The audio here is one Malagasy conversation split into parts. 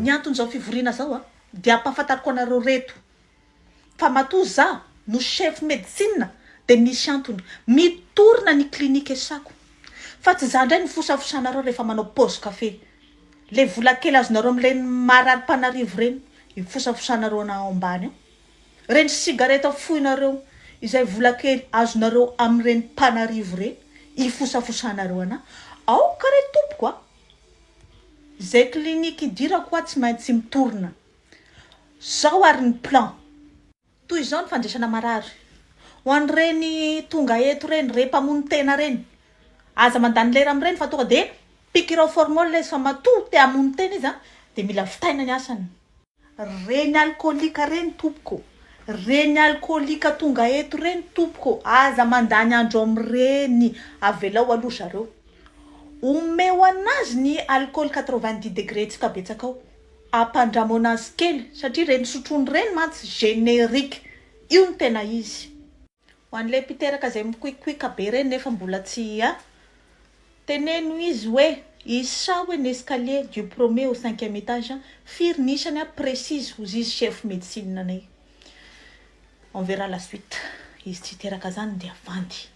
Ny anton'izao fivoriana izao dia hampahafantariko anareo reto fa matoa izaho no chef medecine dia misy antony mitorina ny clinique esako fa tsy izaho indray no fosafosanareo rehefa manao pause café le vola kely azonareo amin'ireny marary mpanarivo ireny ifosafosanareo ana ao ambany ao. Ireny sigareta fohinareo izay vola kely azonareo amin'ireny mpanarivo ireny ifosafosanareo anà. Aoka re tompoko a! Izay clinique idirako hoa tsy maintsy mitorina. Zao ary ny plan. Toy izao ny fandraisana marary. Ho an'ireny tonga eto ireny, re mpamono tena ireny, aza mandany lera amin'ireny fa tonga dia pikirao formol izy fa matoa te hamono tena izy dia mila vitaina ny asany. Reny alkolika reny tompoko. Reny alkolika tonga eto reny tompoko aza mandany andro amin'ireny avelao aloha zareo. Omeo anazy ny alcool quatre vingt dix degre tsika betsaka ao ampandramao anazy kely satria reny sotroiny reny mantsy generique io no tena izy. Ho an'ilay mpiteraka izay mikoikoika be ireny nefa mbola tsy hia, teneno izy hoe Isao un escalier du premier au cinquième étage firy ny isany a précise hozizy chef médecine anay. On verra la suite. Izy tsy hiteraka zany dia vandy.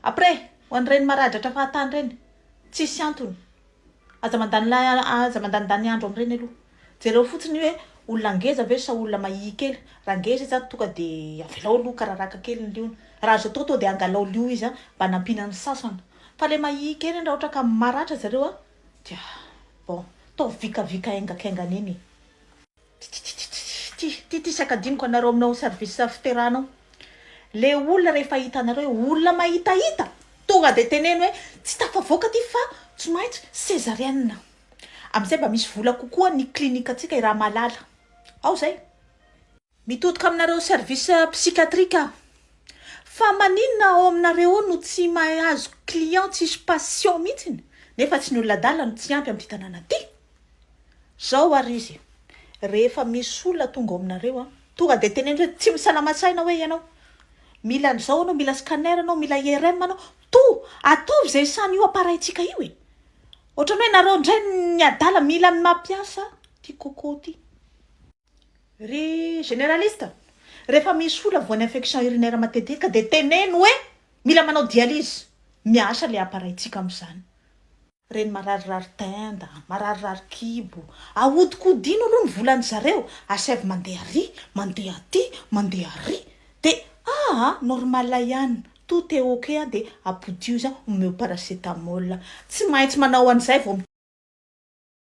Après, ho an'ireny maradratra fahatany ireny, tsisy antony, Aza mandany la aza mandanindany andro amin'ireny aloha. Jereo fotsiny hoe olona ngeza ve sa olona mahia kely. Raha ngeza izy ary toka dia avelao aloha kararaka kely ny liony. Raha azo atao toa dia angalao lio izy mba nampiana ny sasany. Fa ilay mahia kely iny raha ohatra ka maratra zareo dia bon, ataovy vikavika aingakaingana eny e. Tititititititititisa ka adinoko anareo aminao service fiterana ao le olona rehefa hitanareo hoe olona mahitahita tonga de teneno hoe tsy tafavoaka ty fa tsy maintsy césarienne amizay mba misy vola kokoa ny clinique antsika i Ramalala ao zay mitodika aminareo service psychiatrique aho fa maninona ao aminareo ao no tsy mahay azo client tsisy patient mihitsiny nefa tsy ny olona adala no tsy ampy amty tanàna ty Zao ary izy, rehefa misy olona tonga ao aminareo an, tonga dia teneno hoe tsy misalama-tsaina hoe ianao, mila an'izao anao, mila scanner anao, mila IRM anao, toa ataovy izay samy io appareil-tsika io e! Ohatran'ny hoe nareo indray ny adala, mila ny mampiasa ity coco ity. Ry généraliste, rehefa misy olona voan'ny infection urinaire matetika dia teneno hoe mila manao dialyse, miasa ilay appareil-tsika amin'izany. Reny mararirary tenda, mararirary kibo, ahodikodino aloha ny volan'ny zareo, asaivo mandeha ary, mandeha aty, mandeha ary, dia ah ah normal ihany, tout est ok ah dia apodio izy ah omeo paracetamol, tsy maintsy manao an'izay vao.